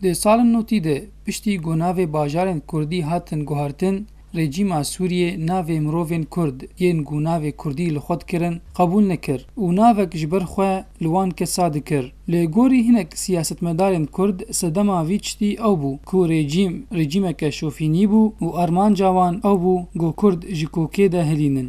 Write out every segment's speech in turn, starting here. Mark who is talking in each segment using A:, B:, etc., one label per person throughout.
A: Di salên notî de piştî ku navê bajarên kurdî hatin guhartin, rejîma Sûriyê navê mirovên kurd yên ku navê kurdî li xwe dikirin qebûl nekir û navek ji ber xwe li wan kesa dikir. Li gorî hinek siyasetmedarên kurd sedema vî tiştî ew bû ku rejîm rejîmeke şofînî bû û armanca wan ew bû ku kurd ji kokê de hilînin.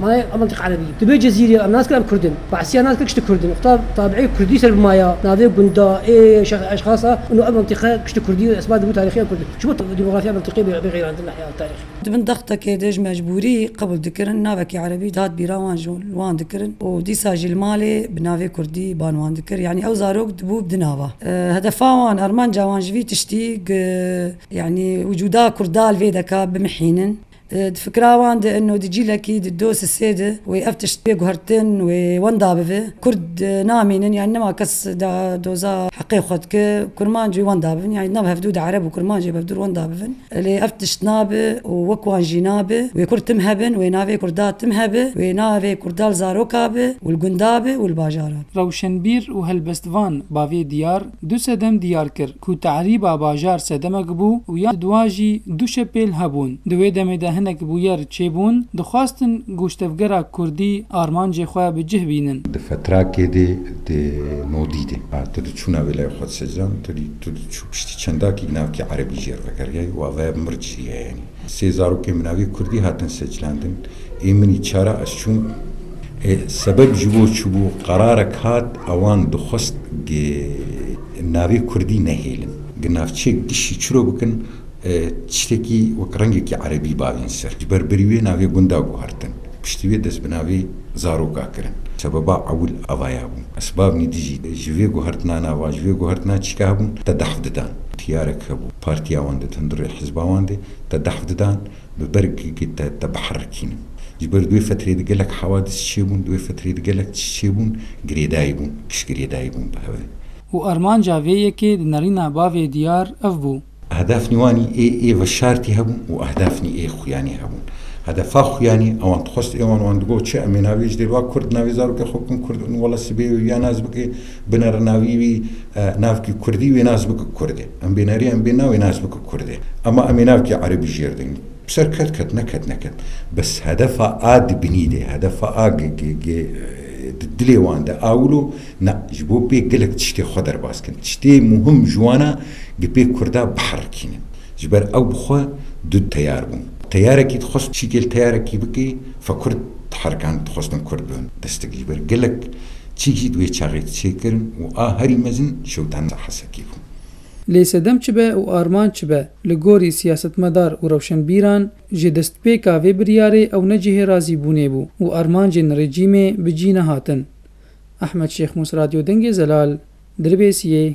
B: Ma em mintiq erebî ye. Divê Cezîrê ye. Em nas kirin em kurd in. Behsîya nas kir kiştî kurd in. Xweta tabîî kurdî ser bi ma ya. Navê gunda, ê şex eşxasa û no ev mintiqe kiştî kurdî û esbadî bû tarîxiya kurd in. Çima demografiya mintiqê bê xeyirandin li heya tarîxê? Di bin dextekê de
C: ji mecbûrî qebûl dikirin. Navekî erebî dihat bîra wan ji wan dikirin û dîsa jî li malê bi navê kurdî ban wan dikir. Yanî ew zarok dibû bi di nava. Hedefa wan, armanca wan ji vî tiştî, yanî wicûda kurda li vê de ka bimihînin. Di fikira wan de inno di cîlekî di do sisê de wê ev tişt bê guhertin wê wenda bive. Kurd namînin yanî nema kes da doza heqê xwe dike kurmanc wê wenda bibin yanî di nav hevdû de ereb û kurmancê bi hevdûr wenda bibin. Lê ev tişt nabe û wek wan jî nabe. Wê kurd tim hebin, wê navê kurda tim hebe, wê navê kurda li zaroka be û li gunda be û li bajara be. Rewşenbîr û
A: helbestvan bavê diyar Du sedem diyar kir ku tehrîba bajar sedemek bû û ya duwa jî du şepêl hebûn. Di wê demê de hinek bûyer çêbûn, dixwastin goştevgera kurdî armancê xwe bi cih bînin. Di fetrakê de
D: di no dîdê. A, tu di çûna wê lay xwe di secan, tu dî tu di çû piştî çendakî navkî erebî jê re vekeriyayî û ava mirc jî heyenî. Sê zarokên bi navê Kurdî hatin seçlandin. Ê minî çara ez çûm. Ê sebeb ji bo çûbû qerarek hat a wan dixwest gi navê Kurdî nehêlin. Gi navçeyek dişî çiro bikin tiştekî wek rengekî erebî bavên ser. Ji ber birî wê navê gunda guhertin. Piştî wê dest bi navê zaroka kirin. Sebeba ewil avaya bû. Esbabnî dijî ji vê guhertinan ava ji vê guhertinan çîka hebûn te dehf didan. Tiyarek hebû partiya wan di hundirê hizba wan de te dehf didan bi bergekê te te biherikînin. Ji ber di wê fetrê de gelek hewadis çêbûn, di wê fetrê de gelek tişt çêbûn, girêdayî bûn, piştgirêdayî bûn bi hev e. Û armanca
A: vê yekê di nerîna bavê diyar ev bû. Ehdafnî wanî
D: ê ê veşartî hebûn û ehdafnî ê xuyanî hebûn. Hedefa xuyanî ewan dixwest ê wan wan digot çi em ê navê ji dêrva Kurd navê zarokê xwe bikin Kurd û wela sibê û ya nas bike, Biner navî wî navkî kurdî wê nas bike kurdê. Em bênerî em bê navê nas bike kurdê. Ema em ê navkî erebî jêr din. Bi ser ket ket neket neket. Bes hedefa a di binî de, hedefa a ge ge ge di dilê wan de a wilo na ji bo pê gelek tiştê xwe derbas bikin. Tiştê muhim ji wan a ge pê kurda biherikînin. Ji ber ew bi xwe du teyar bûn. Teyarekî dixwest çîkê li teyarekî bikê, fekurd diherikan dixwestin kurd bibin destgir. Ji ber gelek Çi jî di wê çaxê di çêkirin û a herî mezin şewitane ser Hesekê bû. Lê sedem çi
A: be û armanc çi be, li gorî siyasetmedar û rewşenbîran, ji destpêka vê biryarê ew ne cihê razîbûnê bû û armancên rejîmê bi cî nehatin. Ehmed Şêxmûs Radyo Dengê Zelal, Dirbêsiyê.